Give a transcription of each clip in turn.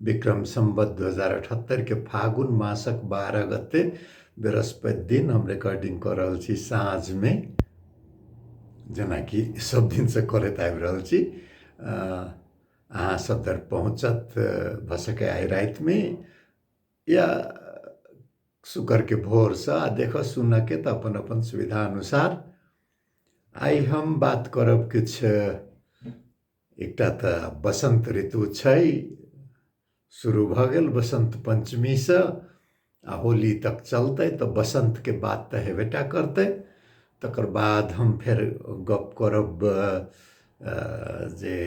विक्रम सम्बत दू हजार अठहत्तरिके फागुन मासक बारह गते बृहस्पति दिन हम रिकॉर्डिंग कऽ रहल छी साँझमे जेनाकि सब दिनसँ करैत आबि रहल छी अहाँ सब धरि पहुँचत भऽ सकै आइ रातिमे या शुक्रके भोरसँ आ देखऽ सुनऽके तऽ अपन अपन सुविधा अनुसार आइ हम बात करब किछु एकटा तऽ बसन्त ऋतु छै शुरू भऽ गेल बसन्त पञ्चमीसँ आ होली तक चलतै तऽ बसन्तके बात तऽ हेबे टा करतै तकर बाद हम फेर गप्प करब जे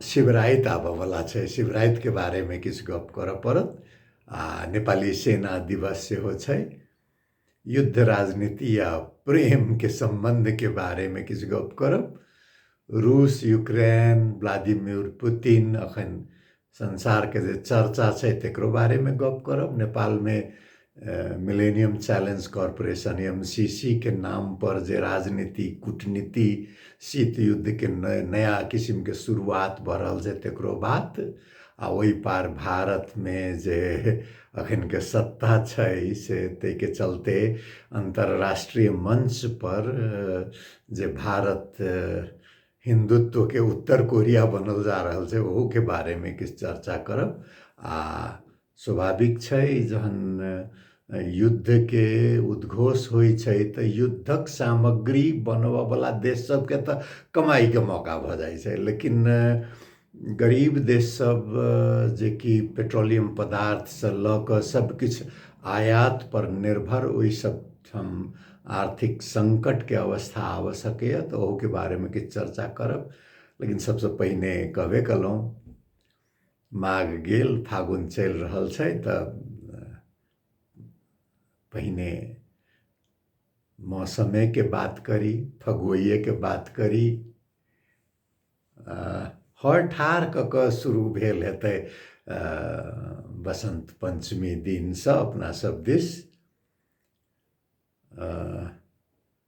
शिवराति आबऽवला छै शिवरातिके बारेमे किछु गप्प करऽ पड़त आ नेपाली सेना दिवस सेहो छै युद्ध राजनीति आ प्रेमके सम्बन्धके बारेमे किछु गप करब रूस युक्रेन व्लादिमिर पुतिन अखन संसारके जे चर्चा छै तकरो बारेमे गप करब नेपालमे Millennium Challenge Corporation M C C के नाम पर जे राजनीति कूटनीति शीत युद्धके नया किसिमके शुरुआत भऽ रहल छै तकरो बात आ ओहि पार भारतमे जे अखनके सत्ता छै से ताहिके चलते अन्तर्राष्ट्रीय मंच पर जे भारत हिन्दुत्वके उत्तर कोरिया बनल जा रहल छै ओहूके बारेमे किछु चर्चा करब आ स्वाभाविक छै जहन युद्धके उद्घोष होइ छै तऽ युद्धक सामग्री बनबऽवला देश सबके तऽ कमाइके मौका भऽ जाइ छै लेकिन गरीब देश सब जेकि पेट्रोलियम पदार्थसँ लऽ कऽ सबकिछु आयात पर निर्भर ओहि सब ठाम आर्थिक संकटके अवस्था आबऽ सकैए तऽ ओहूके बारेमे किछु चर्चा करब लेकिन सबसँ पहिने कहबे कयलहुँ माघ गेल फागुन चलि रहल छै तऽ पहिने मौसमेके बात करी फगुएके बात करी हर ठार कऽ कऽ शुरू भेल हेतै बसन्त पञ्चमी दिनसँ अपनासभ दिस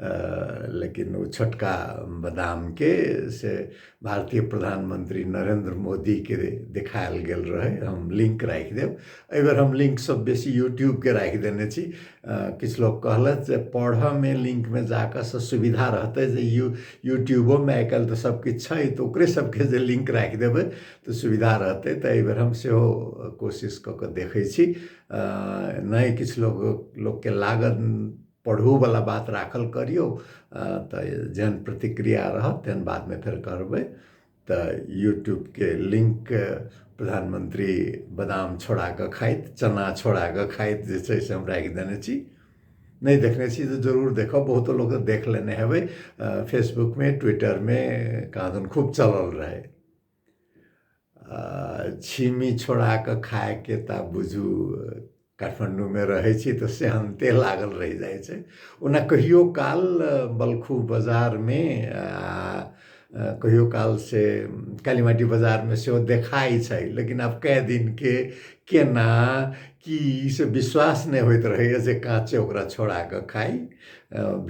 लेकिन ओ छोटका बादामके से भारतीय प्रधानमंत्री नरेंद्र मोदीके देखायल गेल रहै हम लिंक राखि देब एहि बेर हम लिंक सब बेसी यूट्यूबके राखि देने छी किछु लोक कहलथि जे पढ़ऽमे लिंकमे जाकऽ से सुविधा रहतै जे यू यूट्यूबोमे आइ काल्हि तऽ सब किछु छै तऽ ओकरे सबके जे लिंक राखि देबै तऽ सुविधा रहतै तऽ एहि बेर हम सेहो कोशिश कऽ कऽ देखै छी नहि किछु लोक लोकके लागत पढ़ूवला बात राखल करियौ तऽ जेहन प्रतिक्रिया रहत तेहन बादमे फेर करबै तऽ यूट्यूबके लिंक प्रधानमंत्री बादाम छोड़ा कऽ खाइत चना छोड़ा कऽ खाइत जे छै से हम राखि देने छी नहि देखने छी तऽ जरूर देखब बहुतो लोक देख लेने हेबै फेसबुकमे ट्विटरमे कहाँ दन खूब चलल रहै छिमी छोड़ा कऽ खायके तऽ आब बुझू काठमाण्डूमे रहै छी तऽ सेहन्ते लागल रहि जाइ छै ओना कहियो काल बलखू बाजारमे आ कहियो काल से कालीमाटी बाजारमे सेहो देखाइ छै लेकिन आब कए दिनके केना की से विश्वास नहि होइत रहैए जे काँचे ओकरा छोड़ा कऽ खाइ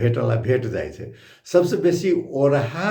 भेटला भेट जाइ छै सभसँ बेसी ओरहा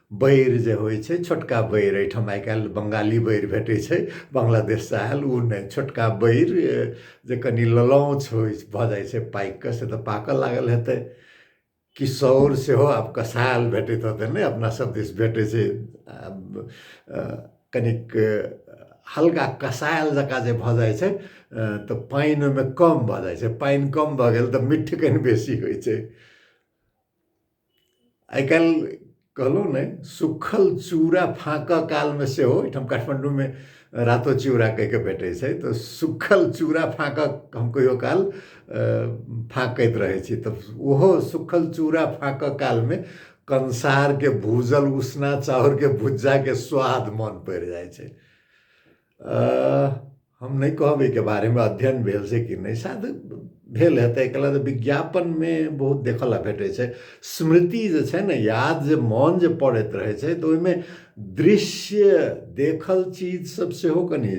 बैर जे होइ छै छोटका बैर एहिठाम आइ काल्हि बंगाली बैर भेटै छै बांग्लादेशसँ आयल ओ नहि छोटका बैर जे कनि ललौच होइ भऽ जाइ छै पाकि कऽ से तऽ पाकऽ लागल हेतै किशोर सेहो आब कसायल भेटैत हेतै नहि अपना सब दिस भेटै छै कनिक हल्का कसायल जकाँ जे भऽ जाइ छै तऽ पानि ओहिमे कम भऽ जाइ छै पानि कम भऽ गेल तऽ मिठ कनि बेसी होइ छै आइ काल्हि कहलहुँ ने सुखल चूड़ा फाँकऽ कालमे सेहो एहिठाम काठमाण्डूमे रातो चूड़ा कहि कऽ भेटै छै तऽ सुखल चूड़ा फाँकऽ हम कहियो काल फाँकैत रहै छी तऽ ओहो सुखल चूड़ा फाँकऽ कालमे कंसारके भूजल उसना चाउरके भुज्जाके स्वाद मन पड़ि जाइ छै हम नहि कहब एहिके बारेमे अध्ययन भेल से कि नहि शायद भेल हेतै एहिके लेल विज्ञापनमे बहुत देखय लेल भेटै छै स्मृति जे छै ने याद जे मोन जे पड़ैत रहै छै तऽ ओहिमे दृश्य देखल चीजसभ सेहो कनि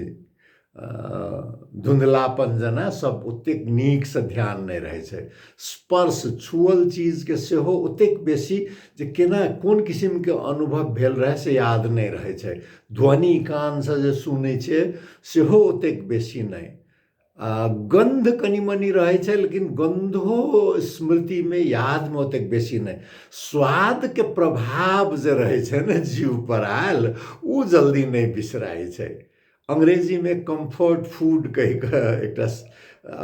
धुँधलापन जेना सभ ओतेक नीकसँ ध्यान नहि रहै छै स्पर्श छुअल चीजके सेहो ओतेक बेसी जे केना कोन किसिमके अनुभव भेल रहए से याद नहि रहै छै ध्वनि कानसँ जे सुनै छै सेहो ओतेक बेसी नहि आ गन्ध कनि मनि रहै छै लेकिन गन्धो स्मृतिमे यादमे ओतेक बेसी नहि स्वादके प्रभाव जे रहै छै ने जीवपर आयल ओ जल्दी नहि बिसराइ छै अंग्रेजीमे कम्फर्ट फूड कहि कऽ एकटा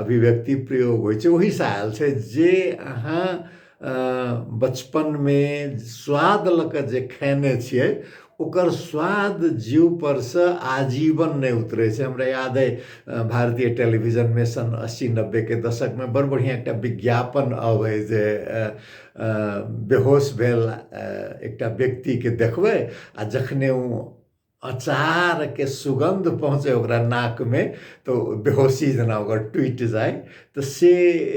अभिव्यक्ति प्रयोग होइ छै ओहिसँ आयल छै जे अहाँ बचपनमे स्वाद लऽ कऽ जे खेने छियै ओकर स्वाद जीव पर से आजीवन नहि उतरै छै हमरा याद अइ भारतीय टेलीविजनमे सन अस्सी नब्बेके दशकमे बड़ बढ़िआँ एकटा विज्ञापन अबै जे बेहोश भेल एकटा व्यक्तिके देखबै आ जखने ओ अचार के सुगंध पहुँचे ओकरा नाक में तो बेहोशी जना ओकर टूट जाए तो से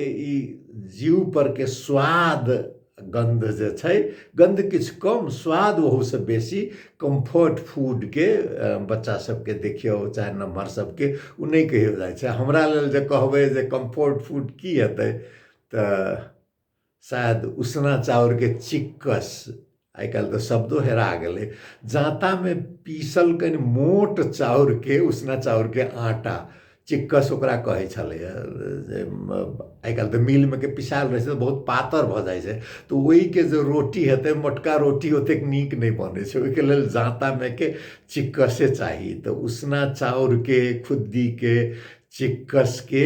ई जीव पर के स्वाद गंध जे छै गंध किछु कम स्वाद ओहू से बेसी कम्फर्ट फूड के अ, बच्चा सबके देखियौ चाहे नमहर सबके ओ नहि कहियो जाइ छै हमरा लेल जे कहबै जे कम्फर्ट फूड की हेतै तऽ शायद उसना चाउरके चिक्कस आइ काल्हि तऽ शब्दो हेरा गेलै जाँतामे पीसल कनि मोट चाउरके उसना चाउरके आटा चिक्कस ओकरा कहै छलैए जे आइ काल्हि तऽ मिलमे के पिसायल रहै छै तऽ बहुत पातर भऽ जाइ छै तऽ ओहिके जे रोटी हेतै मोटका रोटी ओतेक नीक नहि बनै छै ओहिके लेल जाँतामे के चिक्कसे चाही तऽ उसना चाउरके खुद्दीके चिक्कसके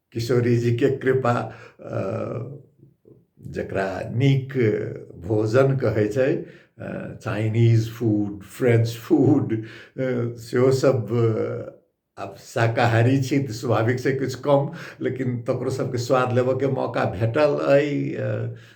किशोरीजीके कृपा जकरा नीक भोजन कहै छै चाइनीज फूड फ्रेंच फूड सेहो सब आब शाकाहारी छी तऽ स्वाभाविक छै किछु कम लेकिन तकरो सबके स्वाद लेबऽके मौका भेटल अइ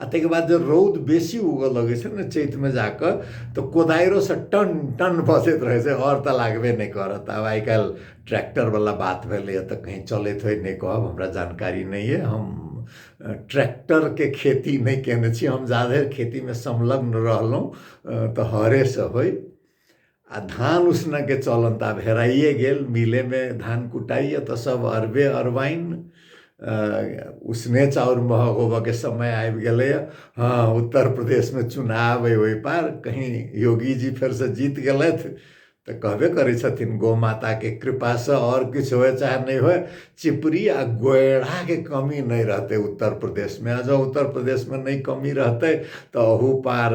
आ ताहिके बाद जे रौद बेसी उगऽ लगै छै ने चैतमे जाकऽ तऽ कोदारिओसँ टन टन बसैत रहै छै आओर तऽ लागबे नहि करत आब आइ काल्हि ट्रैक्टरवला बात भेलैए तऽ कहीँ चलैत होइ नहि कहब हमरा जानकारी नहि अइ हम ट्रैक्टरके खेती नहि कयने छी हम जाधरि खेतीमे संलग्न रहलहुँ तऽ हरेसँ होय आ धान उसना के चलन तऽ आब हेराइए गेल मिलेमे धान कुटाइए तऽ सब अरबे अरबाइन उसने चाउर महग होबऽके समय आबि गेलैए हँ उत्तर प्रदेशमे चुनाव अइ ओहि पार कहीँ योगीजी फेरसँ जीत गेलथि तऽ कहबे करै छथिन गौ माताके कृपासँ आओर किछु होय चाहे नहि होय चिपरी आ गोएड़ाके कमी नहि रहतै उत्तर प्रदेशमे आ जँ उत्तर प्रदेशमे नहि कमी रहतै तऽ ओहू पार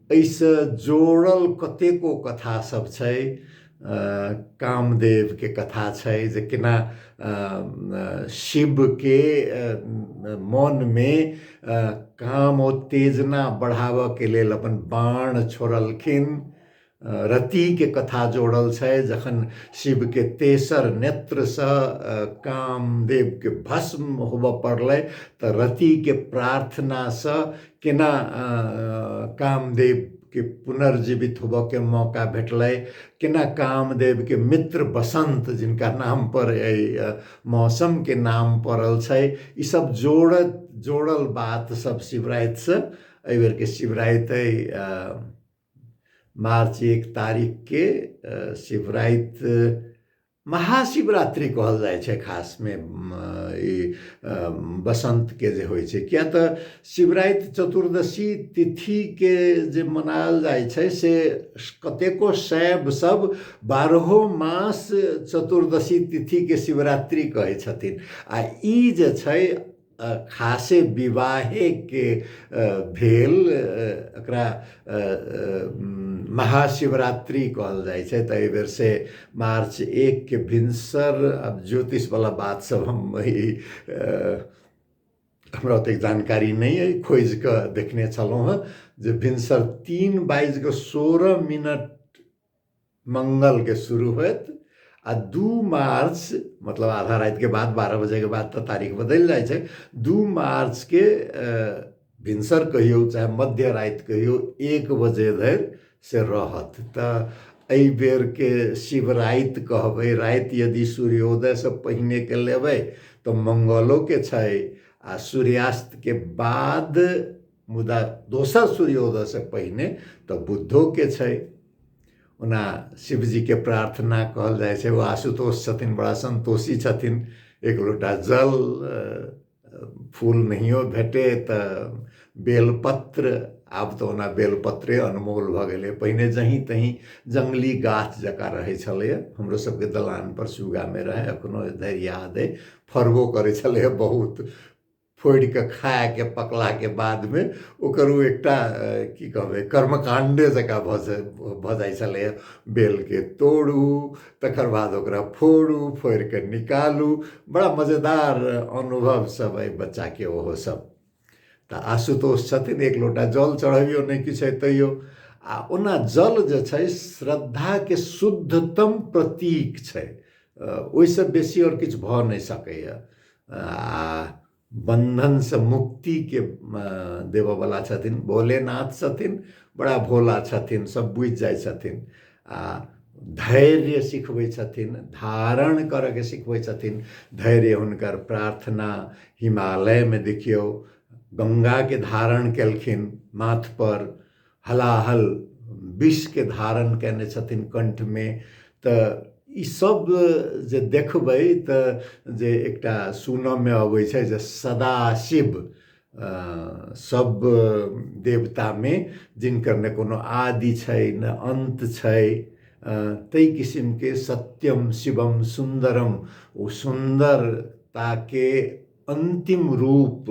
एहिसँ जोड़ल कतेको कथा सब छै कामदेवके कथा छै जे केना शिवके मनमे काम उत्तेजना बढ़ाबऽके लेल अपन बाण छोड़लखिन रतिके कथा जोड़ल छै जखन शिवके तेसर नेत्रसँ कामदेवके भस्म होबऽ पड़लै तऽ रतिके प्रार्थनासँ केना कामदेवके पुनर्जीवित होबऽके मौका भेटलै केना कामदेवके मित्र बसन्त जिनका नाम पर एहि मौसमके नाम पड़ल छै ई सब जोड़त जोड़ल बात सब शिवरातिसँ एहि बेरके शिवराति अइ मार्च एक तारीखके शिवराति महाशिवरात्रि कहल जाइ छै खासमे ई बसन्तके जे होइ छै किएक तऽ शिवराति चतुर्दशी तिथिके जे मनायल जाइ छै से कतेको शैव सब बारहो मास चतुर्दशी तिथिके शिवरात्रि कहै छथिन आ ई जे छै खासे विवाहेके भेल एकरा महाशिवरात्रि कहल जाइ छै तऽ एहिबेर से मार्च एकके भिनसर आब ज्योतिषवला बात सब हम ई हमरा ओतेक जानकारी नहि अइ खोजि कऽ देखने छलहुँ हँ जे भिनसर तीन बाजि कऽ सोरह मिनट मंगल के शुरू होत आ दू मार्च मतलब आधा रात के बाद बारह बजे के बाद तो तारीख बदल जाए छै दू मार्च के अ, भिनसर कहियो चाहे मध्य रात कहियो एक बजे धरि से रहत तऽ एहि बेर के शिवराति कहबै राति यदि सूर्योदय से पहिने के लेबै तऽ मंगलो के छै आ सूर्यास्त के बाद मुदा दोसर सूर्योदयसँ पहिने तऽ बुद्धोके छै ओना शिवजीके प्रार्थना कहल जाइ छै ओ आशुतोष छथिन बड़ा सन्तोषी छथिन एक लोटा जल फूल नहियो भेटे तऽ बेलपत्र आब तऽ ओना बेलपत्रे अनमोल भऽ गेलै पहिने जहीँ तहीँ जङ्गली गाछ जकाँ रहै छलैए हमरो सबके दलानपर सुगामे रहै एखनो धरि याद अइ फड़बो करै छलैए बहुत फोड़ि कऽ खायके पकलाके बादमे ओकर ओ एकटा की कहबै कर्मकाण्डे जकाँ भऽ जाइ भऽ जाइ छलैए बेलके तोड़ू तकर बाद ओकरा फोड़ू फोड़ि कऽ निकालू बड़ा मजेदार अनुभव सब अइ बच्चाके ओहो सब तऽ आशुतोष छथिन एक लोटा जल चढ़बियो नहि किछु अइ तैयो आ ओना जल जे छै श्रद्धाके शुद्धतम प्रतीक छै ओहिसँ बेसी आओर किछु भऽ नहि सकैए आ बन्धनसँ मुक्तिके देबऽवला छथिन भोलेनाथ छथिन बड़ा भोला छथिन सब बुझि जाइ छथिन आ धैर्य सिखबै छथिन धारण करऽके सिखबै छथिन धैर्य हुनकर प्रार्थना हिमालयमे देखियौ गङ्गाके धारण केलखिन माथपर हलाहल विषके धारण कयने छथिन कण्ठमे तऽ ई सब जे देखबै तऽ जे एकटा सुनऽमे अबै छै जे सदाशिव सब देवतामे जिनकर ने कोनो आदि छै ने अन्त छै ताहि किसिमके सत्यम शिवम सुन्दरम ओ सुन्दरताके अन्तिम रूप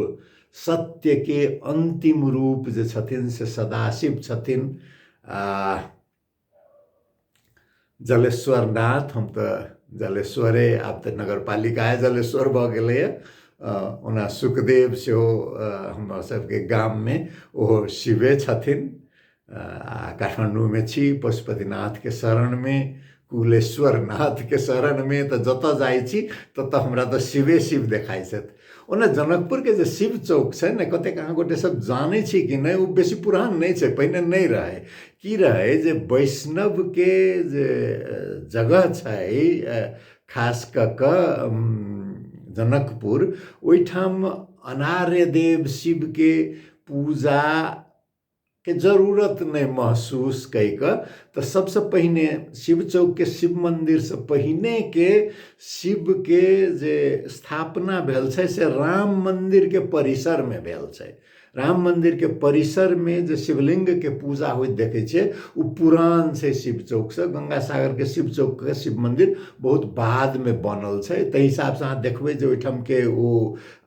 सत्यके अन्तिम रूप जे छथिन से सदाशिव छथिन आ जलेश्वरनाथ हम तऽ जलेश्वरे आब तऽ नगरपालिका जलेश्वर भऽ गेलैए ओना सुखदेव सेहो हमर सबके गाममे ओहो शिवे छथिन काठमाडौँ में छी पशुपतिनाथ के शरण में कुलेश्वर नाथ के शरण में तो जत जाइ छी तत हमरा तो शिवे शिव देखाइ छथि ओना जनकपुर के जे शिव चौक छै ने कतेक अहाँ गोटे सब जानै छी कि नहि ओ बेसी पुरान नहि छै पहिने नहि रहै की रहै जे वैष्णव के जे जगह छै खास कऽ कऽ जनकपुर ओहिठाम अनार्य देव शिव के पूजा के जरूरत नहि महसूस कई कऽ तऽ सबसँ पहिने शिव चौकके शिव मन्दिरसँ पहिनेके शिवके जे स्थापना भेल छै से राम मन्दिरके परिसरमे भेल छै राम मन्दिरके परिसरमे जे शिवलिङ्गके पूजा होइत देखै छियै ओ पुरान छै शिव चौकसँ गङ्गासागरके शिव चौकके शिव मन्दिर बहुत बादमे बनल छै ताहि हिसाबसँ अहाँ देखबै जे ओहिठामके ओ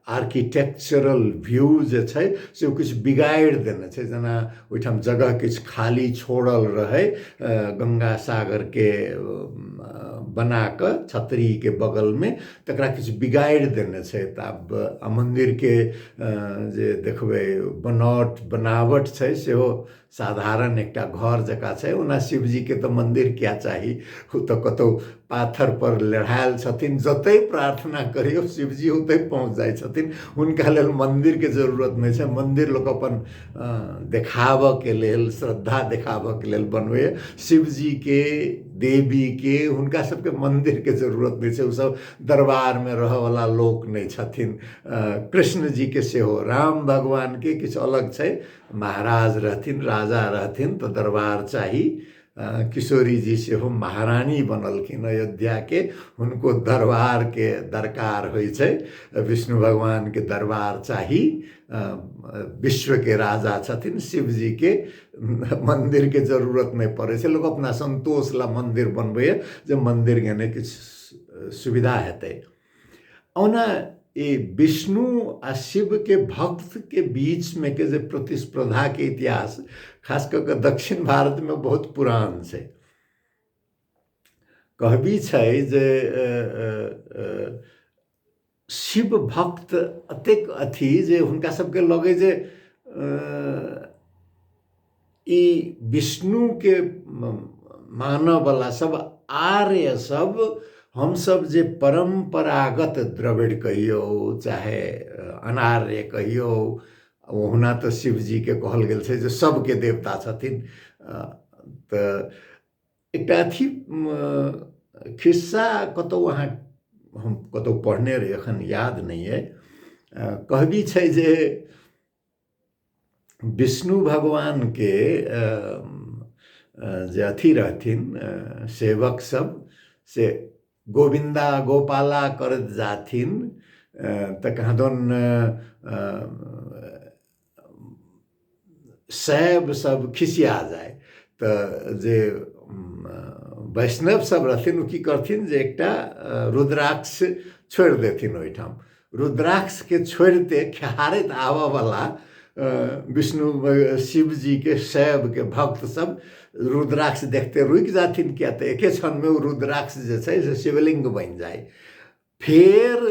आर्किटेक्चरल व्यू जे छै से ओ किछु बिगाड़ि देने छै जेना ओहिठाम जगह किछु खाली छोड़ल रहै गङ्गा सागरके बना कऽ छतरीके बगलमे तकरा किछु बिगाड़ि देने छै तऽ आब आ मन्दिरके जे देखबै बनावट बनावट छै सेहो साधारण एकटा घर जकाँ छै ओना शिवजीके तऽ मन्दिर किया चाही ओ तऽ कतहु पाथरपर लड़ायल छथिन जतहि प्रार्थना करियौ शिवजी ओतहि पहुँच जाइ छथिन हुनका लेल मन्दिरके जरूरत नहि छै मन्दिर लोक अपन देखाबऽके लेल श्रद्धा देखाबऽके लेल बनबैए शिवजीके देवीके हुनका सबके मन्दिरके जरूरत नहि छै ओसब दरबारमे रहऽवला लोक नहि छथिन कृष्णजीके सेहो राम भगवानके किछु अलग छै महाराज रहथिन राजा रहथिन तऽ दरबार चाही किशोरी जी सेहो महारानी बनलखिन अयोध्याके हुनको दरबारके दरकार होइ छै विष्णु भगवानके दरबार चाही विश्वके राजा छथिन शिवजीके मन्दिरके जरूरत नहि पड़ै छै लोक अपना सन्तोष लए मन्दिर बनबैए जे मन्दिरके नहि किछु सुविधा हेतै ओना ई विष्णु आ शिवके भक्तके बीचमे के जे प्रतिस्पर्धाके इतिहास खास कऽ कऽ दक्षिण भारतमे बहुत पुरान छै कहबी छै जे शिव भक्त एतेक अथी जे हुनका सबके लगै जे ई विष्णुके मानऽवला सब आर्य सब हमसब जे परम्परागत द्रविड़ कहियौ चाहे अनार्य कहियौ ओहुना तऽ शिवजीके कहल गेल छै जे सबके देवता छथिन तऽ एकटा अथी खिस्सा कतहु अहाँ हम कतहु पढ़ने रही एखन याद नहि अइ कहबी छै जे विष्णु भगवानके जे अथी रहथिन सेवक सब से गोविन्दा गोपाला कर जाथिन तऽ कहदन शैव सब खिसिया जाय तऽ जे वैष्णव सब रहथिन ओ की करथिन जे एकटा रुद्राक्ष छोड़ि देथिन ओहिठाम रुद्राक्ष के छोड़ते खेहारत आबऽ वाला विष्णु शिव जी के शैव के भक्त सब रुद्राक्ष देखते रुकि जाथिन किया तऽ एके क्षण में रुद्राक्ष जे छै से शिवलिंग बनि जाय फेर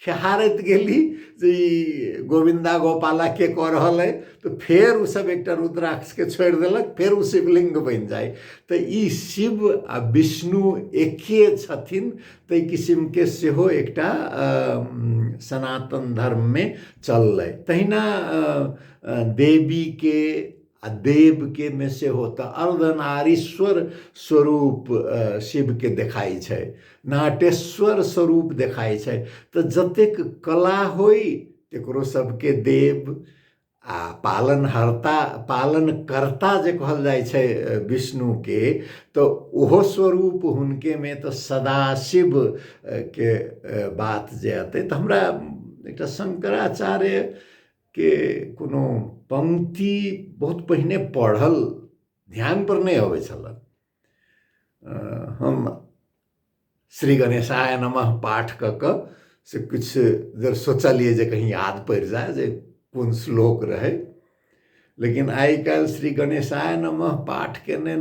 खेहारत गेली जे ई गोविंदा गोपाला के कऽ रहल अइ तऽ फेर ओ सब एकटा रुद्राक्ष के छोड़ि देलक फेर ओ शिवलिंग बनि जाय तऽ ई शिव आ विष्णु एके छथिन ताहि किसिमके सेहो एकटा सनातन धर्ममे चललै तहिना देवीके आ देवके मे सेहो तऽ अर्धनारीश्वर स्वरूप शिवके देखाइ छै नाटेश्वर स्वरूप देखाइ छै तऽ जतेक कला होइ तकरो सबके देव आ पालनहर्ता पालनकर्ता जे कहल जाइ छै विष्णुके तऽ ओहो स्वरूप हुनकेमे तऽ सदाशिव के बात जे अतै तऽ हमरा एकटा शंकराचार्यके कोनो पंक्ति बहुत पहिने पढ़ल ध्यानपर नहि अबै छलए हम श्री गणेशाय नमः पाठ कऽ कऽ से किछु देर सोचलिए जे कहीं याद पड़ि जाए जे कोन श्लोक रहै लेकिन आइ काल्हि श्री गणेशाय नमः पाठ केने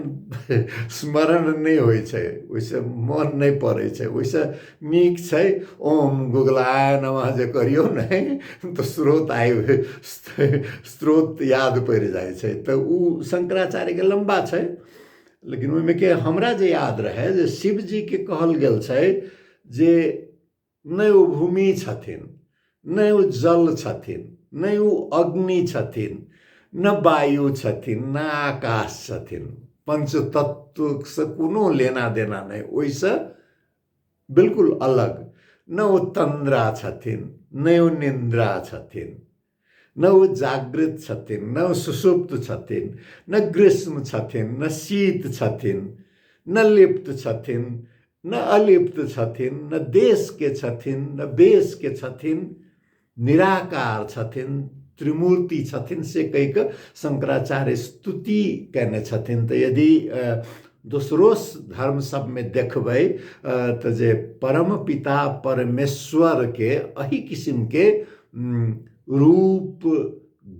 स्मरण नहि होइ छै ओहिसँ मोन नहि पड़ै छै ओहिसँ नीक छै ओम गुगलाय नमः जे करियौ ने तऽ स्रोत आबि स्रोत याद पड़ि जाइ छै तऽ ओ शंकराचार्यके लम्बा छै लेकिन ओहिमे के हमरा जे याद रहै जे शिवजीके कहल गेल छै जे नहि ओ भूमि छथिन नहि ओ जल छथिन नहि ओ अग्नि छथिन न वायु छथिन न आकाश छथिन पंचतत्वसँ कोनो लेना देना नहि ओहिसँ बिलकुल अलग नहि ओ तन्द्रा छथिन नहि ओ निन्द्रा छथिन न ओ जागृत छथिन न ओ सुसुप्त छथिन न ग्रीष्म छथिन न शीत छथिन न लिप्त छथिन न अलिप्त छथिन न देशके छथिन न बेसके छथिन निराकार छथिन त्रिमूर्ति छथिन से कहिकऽ शङ्कराचार्य स्तुति कयने छथिन तऽ यदि दोसरो धर्म सबमे देखबै तऽ जे परम पिता परमेश्वरके एहि किसिमके रूप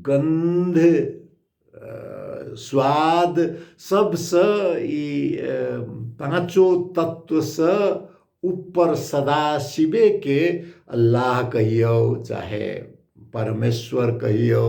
गन्ध स्वाद सबसँ ई पाँचो तत्वसँ ऊपर सदा शिवेके अल्लाह कहियौ चाहे परमेश्वर कहियौ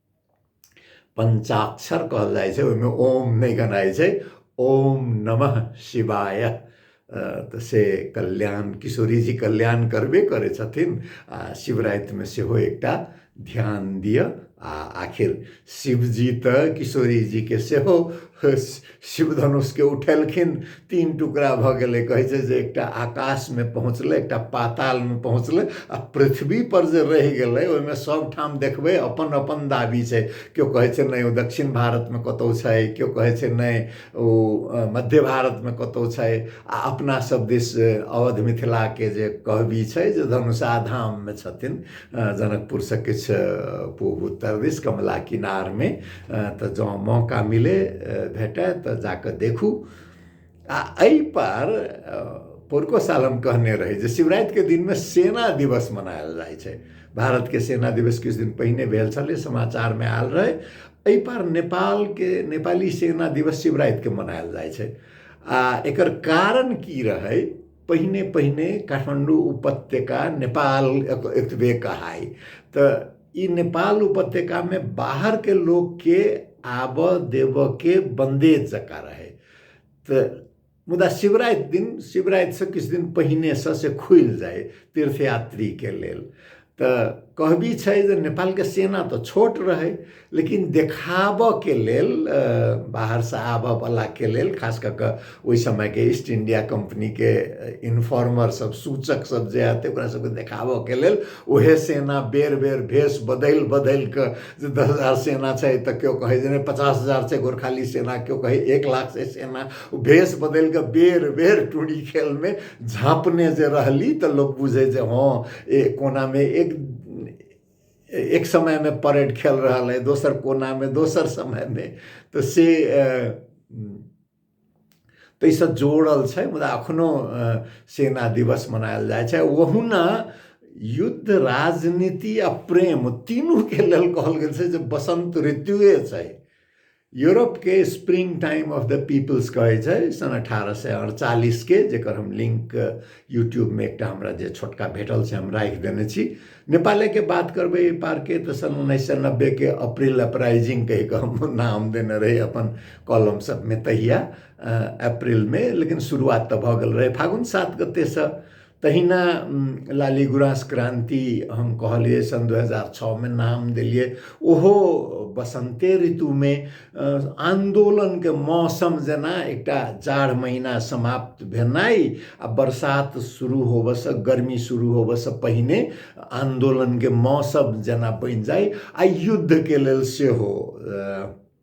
पञ्चाक्षर कहल जाइ छै ओहिमे ओम नहि गनाइ छै ओम नमः शिवाय तऽ से कल्याण किशोरीजी कल्याण करबे करै छथिन आ शिवरातिमे सेहो एकटा ध्यान दिअ आ आखिर शिवजी तऽ किशोरीजीके सेहो शिव धनुषके उठेलखिन तीन टुकड़ा भऽ गेलै कहै छै जे एकटा आकाशमे पहुँचलै एकटा पातालमे पहुँचलै आ पृथ्वीपर जे रहि गेलै ओहिमे सभठाम देखबै अपन अपन दाबी छै केओ कहै छै नहि ओ दक्षिण भारतमे कतहु छै केओ कहै छै नहि ओ मध्य भारतमे कतहु छै आ अपनासभ दिस अवध मिथिलाके जे कहबी छै जे धनुषा धाममे छथिन जनकपुरसँ किछु पूब उत्तर दिस कमला किनारमे तऽ जँ मौका मिले भेटय तऽ जा कऽ देखू आ एहिपर पोरको साल हम कहने रही जे शिवरातिके दिनमे सेना दिवस मनायल जाइ छै भारतके सेना दिवस किछु दिन पहिने भेल छलै समाचारमे आयल रहै एहिपर नेपालके नेपाली सेना दिवस शिवरातिके मनायल जाइ छै आ एकर कारण की रहै पहिने पहिने काठमाडौँ उपत्यका नेपाल एतबे कहाइ तऽ ई नेपाल उपत्यकामे बाहरके लोकके आबऽ देबऽके बन्दे जकाँ रहै तऽ मुदा शिवराति दिन शिवरातिसँ किछु दिन पहिनेसँ से खुलि जाय तीर्थयात्रीके लेल तऽ कहबी छै जे नेपालके सेना तऽ छोट रहै लेकिन देखाबऽके लेल बाहरसँ आबऽवलाके लेल खास कऽ कऽ ओहि समयके ईस्ट इंडिया कम्पनीके इन्फॉर्मर सब सूचक सब जे आते ओकरा सबके देखाबऽके लेल ओहे सेना बेर बेर भेष बदलि बदलि कऽ जे दस हजार सेना छै तऽ केओ कहै जे नहि पचास हजार छै गोरखाली सेना केओ कहै एक लाख छै सेना ओ भेष बदलि कऽ बेर बेर टुरी खेलमे झाँपने जे रहली तऽ लोक बुझै जे हँ ए कोनामे एक एक समयमे परेड खेल रहल अइ दोसर कोनामे दोसर समयमे तऽ से ताहिसँ जोड़ल छै मुदा एखनो सेना दिवस मनायल जाइ छै ओहुना युद्ध राजनीति आ प्रेम तीनूके लेल कहल गेल छै जे बसन्त ऋतुए छै यूरोप के spring time of the peoples कहे छै सन अठारह सए अड़चालीस के जेकर हम लिंक यूट्यूब में एक हमरा जे छोटका भेटल से हम राखि देने छी नेपाले के बात करबे एहि पार के तो सन उन्नैस सए नब्बे के अप्रैल अपराइजिंग कहि के हम नाम देने रही अपन कॉलम सब में तहिया अप्रैल में लेकिन शुरुआत तो भऽ गेल रहे फागुन सात गते से तहिना लाली गुराँस क्रान्ति हम कहलियै सन् दू हजार छओमे नाम देलियै ओहो बसन्ते ऋतुमे आन्दोलनके मौसम जेना एकटा जाड़ महिना समाप्त भेनाइ आ बरसात शुरू होबऽसँ गर्मी शुरू होबऽसँ पहिने आन्दोलनके मौसम जेना बनि जाइ आ युद्धके लेल सेहो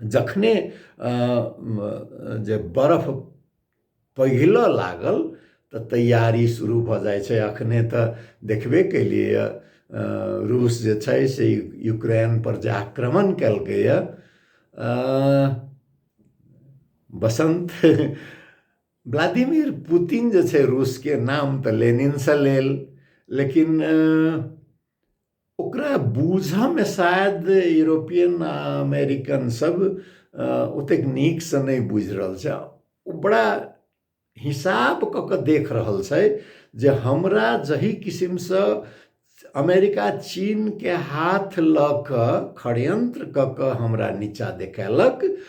जखने जे बरफ पघिलऽ लागल तऽ तैयारी शुरू भऽ जाइ छै अखने तऽ देखबे केलियैए रूस जे छै से यूक्रेनपर जे आक्रमण केलकैए बसन्त व्लादिमिर पुतिन जे छै रूसके नाम तऽ लेनिनसँ लेल लेकिन ओकरा बूझऽमे शायद यूरोपियन आ अमेरिकन सब ओतेक नीकसँ नहि बुझि रहल छै ओ बड़ा हिसाब कऽ कऽ देख रहल छै जे हमरा जही किसिमसँ अमेरिका चीनके हाथ लऽ कऽ षड्यंत्र कऽ कऽ हमरा नीचा देखेलक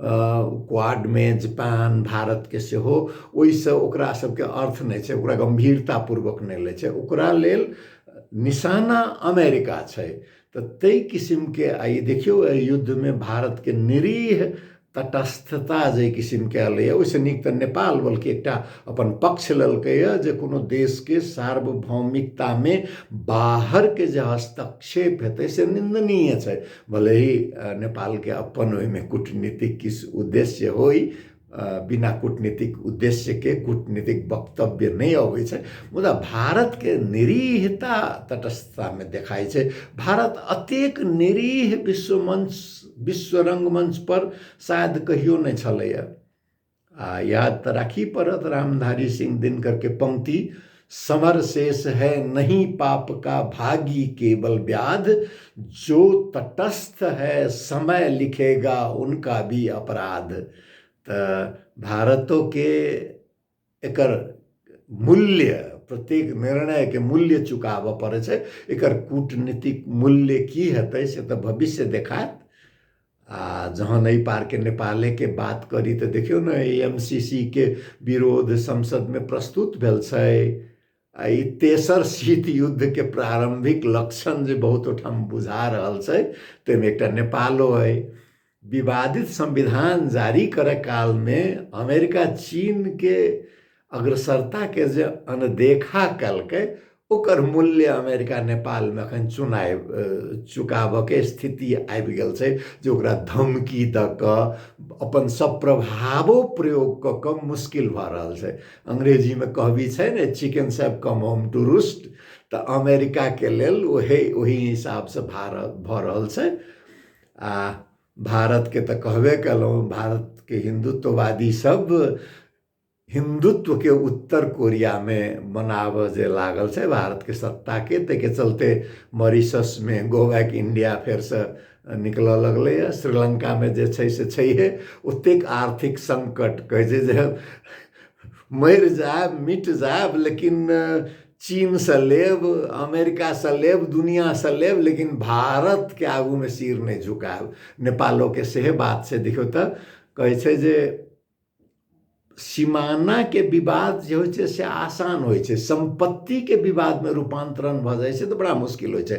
क्वाडमे जापान भारतके सेहो ओहिसँ ओकरा सभके अर्थ नहि छै ओकरा गम्भीरतापूर्वक नहि लै छै ओकरा लेल निशाना अमेरिका छै तऽ ताहि किसिमके आ ई देखियौ एहि युद्धमे भारतके निरीह तटस्थता जाहि किसिमके एलैए ओहिसँ नीक तऽ नेपाल बल्कि एकटा अपन पक्ष लेलकैए जे कोनो देशके सार्वभौमिकतामे बाहरके जे हस्तक्षेप हेतै से निन्दनीय छै भले ही नेपाल के अपन ओहिमे कूटनीतिक किस उद्देश्य होई बिना कूटनीतिक उद्देश्य के कूटनीतिक वक्तव्य नहीं अबै छै मुदा भारत के निरीहता तटस्थता में देखाई छै भारत अतेक निरीह विश्व मंच विश्व रंगमंच पर शायद कहियो नहीं छलैया आ याद तऽ राखी पड़त रामधारी सिंह दिनकरके पंक्ति समर शेष है नहीं पाप का भागी केवल व्याध जो तटस्थ है समय लिखेगा उनका भी अपराध तऽ भारतोके एकर मूल्य प्रत्येक निर्णयके मूल्य चुकाबऽ पड़ै छै एकर कूटनीतिक मूल्य की हेतै से तऽ भविष्य देखायत आ जहन एहि पारके नेपालेके बात करी तऽ देखियौ ने एम सी सी के विरोध संसदमे प्रस्तुत भेल छै आ ई तेसर शीत युद्धके प्रारम्भिक लक्षण जे बहुत ओहिठाम बुझा रहल छै ताहिमे एकटा नेपालो अइ विवादित संविधान जारी करय कालमे अमेरिका चीनके अग्रसरताके जे अनदेखा कयलकै ओकर मूल्य अमेरिका नेपालमे एखन चुनाय चुकाबऽके स्थिति आबि गेल छै जे ओकरा धमकी दऽ कऽ अपन सब प्रभावो प्रयोग कऽ कऽ मुश्किल भऽ रहल छै अंग्रेजीमे कहबी छै ने चिकन सब कम होम टू रूस्ट तऽ अमेरिकाके लेल ओहे ओहि हिसाबसँ भारत भऽ रहल छै आ भारतके तऽ कहबे कयलहुँ भारतके हिन्दुत्ववादी सब हिन्दुत्वके उत्तर कोरियामे बनाबऽ जे लागल छै भारतके सत्ताके ताहिके चलते मॉरिशसमे गो बैक इण्डिया फेरसँ निकलऽ लगलैए श्रीलङ्कामे जे छै से छैहे ओतेक आर्थिक सङ्कट कहै छै जे मरि जायब मिट जायब लेकिन चीनसँ लेब अमेरिकासँ लेब दुनिआँसँ लेब लेकिन भारतके आगूमे सिर नहि झुकायब नेपालोके सेहे बात छै देखियौ तऽ कहै छै जे सीमाना के विवाद जे होइ छै से आसान होइ छै सम्पत्ति के विवाद में रूपांतरण भऽ जाइ छै तऽ बड़ा मुश्किल होइ छै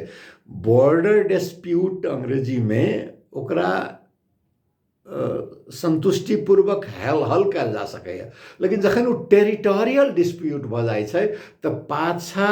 बॉर्डर डिस्प्यूट अंग्रेजी में ओकरा संतुष्टिपूर्वक हल हल कयल जा सकैए लेकिन जखन ओ टेरिटोरियल डिस्प्यूट भऽ जाइ छै तऽ पाछा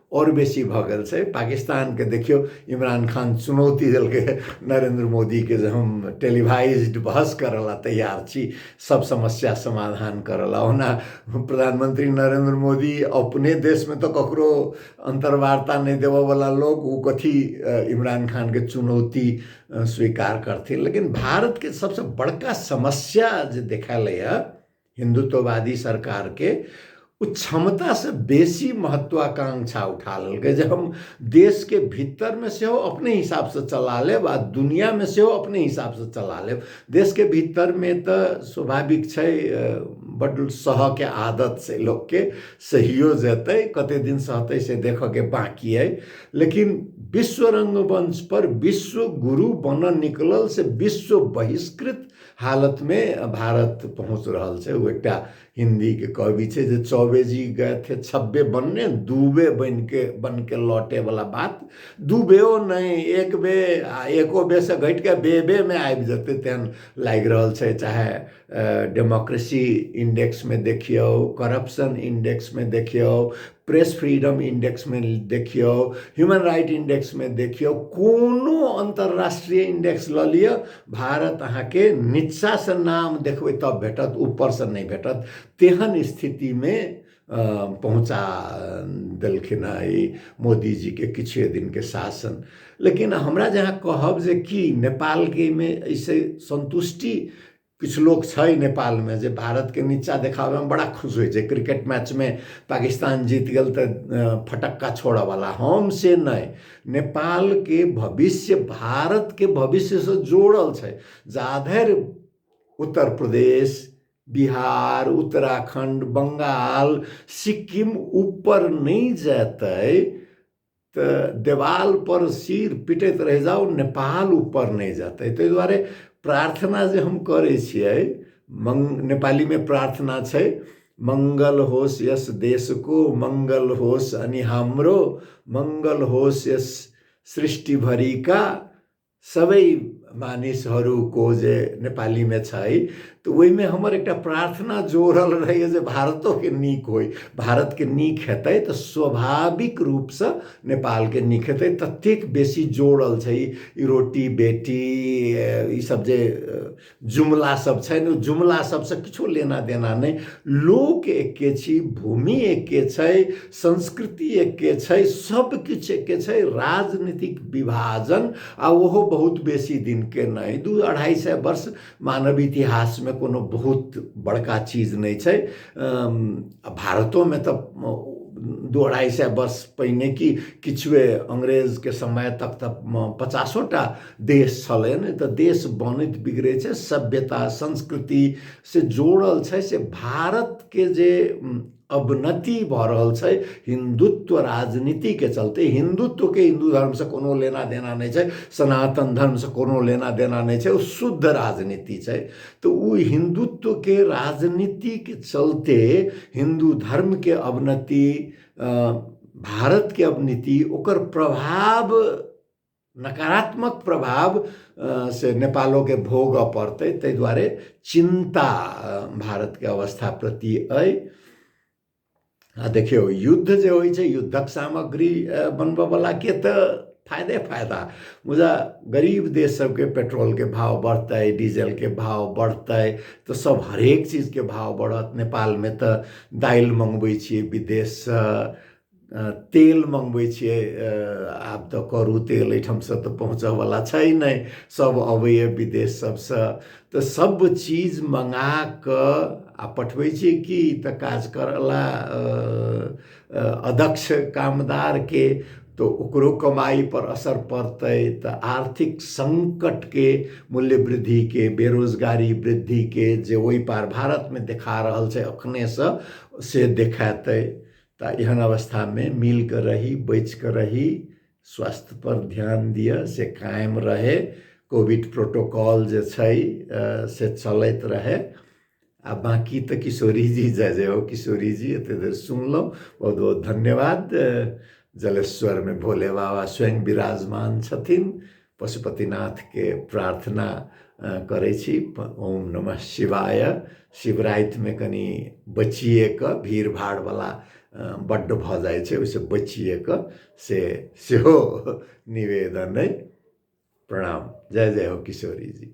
आओर बेसी भऽ गेल छै पाकिस्तानके देखियौ इमरान खान चुनौती देलकै हँ नरेन्द्र मोदीके जे हम टेलीवाइज्ड बहस करऽ लए तैयार छी सब समस्या समाधान करऽ लए ओना प्रधानमंत्री नरेन्द्र मोदी अपने देशमे तऽ ककरो अन्तर्वार्ता नहि देबऽवला लोक ओ कथी अ, इमरान खानके चुनौती अ, स्वीकार करथिन लेकिन भारतके सबसँ बड़का समस्या जे देखालैए हिन्दुत्ववादी सरकार के ओ क्षमता से बेसी महत्वाकांक्षा उठा लेलकै जे हम देश के भीतर में से अपने हिसाब से चला लेब आ दुनिया में से अपने हिसाब से चला लेब देश के भीतर में तो स्वाभाविक छै बड सह के आदत से लोग के सहियो जेतै कते दिन सहतै से देख के बाकी है लेकिन विश्व रंगमंच पर विश्व गुरु बनल निकलल से विश्व बहिष्कृत हालतमे भारत पहुँच रहल छै ओ एकटा हिन्दीके कवि छै जे चौबे जी गए थे छब्बे बनने दूबे बनि के बन के लौटे वाला बात दूबेओ नहि एक बे आ एको बे से घटि कऽ बे बे मे आबि जेतै तेहन लागि रहल छै चाहे डेमोक्रेसी इंडेक्समे देखियौ करप्शन इंडेक्समे देखियौ प्रेस फ्रीडम इंडेक्स में देखियो ह्यूमन राइट इंडेक्स में देखियो कोनो अंतर्राष्ट्रीय इंडेक्स ल लियो भारत अहा के निचा से नाम देखबे तब भेटत ऊपर से नहीं भेटत तेहन स्थिति में पहुँचा देलखिन मोदी जी के किछ दिन के शासन लेकिन हमरा जहाँ कहब जे कि नेपाल के में ऐसे संतुष्टि किछु लोक छै नेपालमे जे भारतके नीचा देखाबैमे बड़ा खुश होइ छै क्रिकेट मैचमे पाकिस्तान जीत गेल तऽ फटक्का छोड़ऽवला हम से नहि नेपालके भविष्य भारतके भविष्यसँ जोड़ल छै जाधरि उत्तर प्रदेश बिहार उत्तराखण्ड बंगाल सिक्किम ऊपर नहि जेतै तऽ देवाल पर सिर पिटैत रहि जाउ नेपाल ऊपर नहि जेतै ताहि दुआरे प्रार्थना जे हम करै छियै मंग नेपालीमे प्रार्थना छै मंगल होस यस देशको मंगल होस अनि हमरो मंगल होस यस सृष्टि भरिका सबै मानिसहरू को जे नेपालीमे छै तऽ ओहिमे हमर एकटा प्रार्थना जोड़ल रहैए जे भारतोके नीक होइ भारतके नीक हेतै तऽ स्वाभाविक रूपसँ नेपालके नीक हेतै ततेक बेसी जोड़ल छै ई रोटी बेटी ईसभ जे जुमला सब छनि ओ जुमला सबसँ किछो लेना देना नहि लोक एके छी भूमि एके छै संस्कृति एके छै सब किछु एके छै राजनीतिक विभाजन आ ओहो बहुत बेसी दिनके नहि दू अढ़ाई सए वर्ष मानव इतिहासमे कोनो बहुत बड़का चीज नहि छै भारतोमे तऽ दू अढ़ाई सए वर्ष पहिने कि किछुए अंग्रेजके समय तक तऽ पचासो टा देश छलै ने तऽ देश बनैत बिगड़ै छै सभ्यता संस्कृति से जोड़ल छै से भारतके जे अवनति भऽ रहल छै हिन्दुत्व राजनीतिके चलते हिन्दुत्वके हिन्दू धर्मसँ कोनो लेना देना नहि छै सनातन धर्मसँ कोनो लेना देना नहि छै ओ शुद्ध राजनीति छै तऽ ओ हिन्दुत्वके राजनीतिके चलते हिन्दू धर्मके अवनति भारतके अवनति ओकर प्रभाव नकारात्मक प्रभाव से नेपालोके भोगऽ पड़तै ताहि दुआरे चिन्ता भारतके अवस्था प्रति अइ आ देखियौ युद्ध जे होइ छै युद्धक सामग्री बनबऽवला के तऽ फायदे फायदा मुदा गरीब देश सबके पेट्रोलके भाव बढ़तै डीजलके भाव बढ़तै तऽ सब हरेक चीजके भाव बढ़त नेपालमे तऽ दालि मँगबै छियै विदेशसँ तेल मङ्गबै छियै आब तऽ करू तेल एहिठामसँ तऽ पहुँचऽवला छै नहि सभ अबैए विदेश सभसँ तऽ सभ चीज मङ्गा कऽ आ पठबै छियै कि तऽ काज करयवला अदक्ष कामदारके तऽ ओकरो कमाइपर असर पड़तै तऽ आर्थिक सङ्कटके मूल्य वृद्धिके बेरोजगारी वृद्धिके जे ओहि पार भारतमे देखा रहल छै एखनहिसँ से देखेतै तऽ एहन अवस्थामे मिल कऽ रही बचि कऽ रही स्वास्थ्य पर ध्यान दिअ से कायम रहै कोविड प्रोटोकॉल जे छै से चलैत रहै आ बाँकी तऽ किशोरी जी जय जय हो किशोरी जी एते देर सुनलहुँ बहुत बहुत धन्यवाद जलेश्वरमे भोले बाबा स्वयं विराजमान छथिन पशुपतिनाथके प्रार्थना करै छी ओम नमः शिवाय शिवरातिमे कनि बचिए कऽ भीड़ भाड़वला बड्ड भऽ जाइ छै ओहिसँ बचिए कऽ से सेहो निवेदन अइ प्रणाम जय जय हो किशोरी जी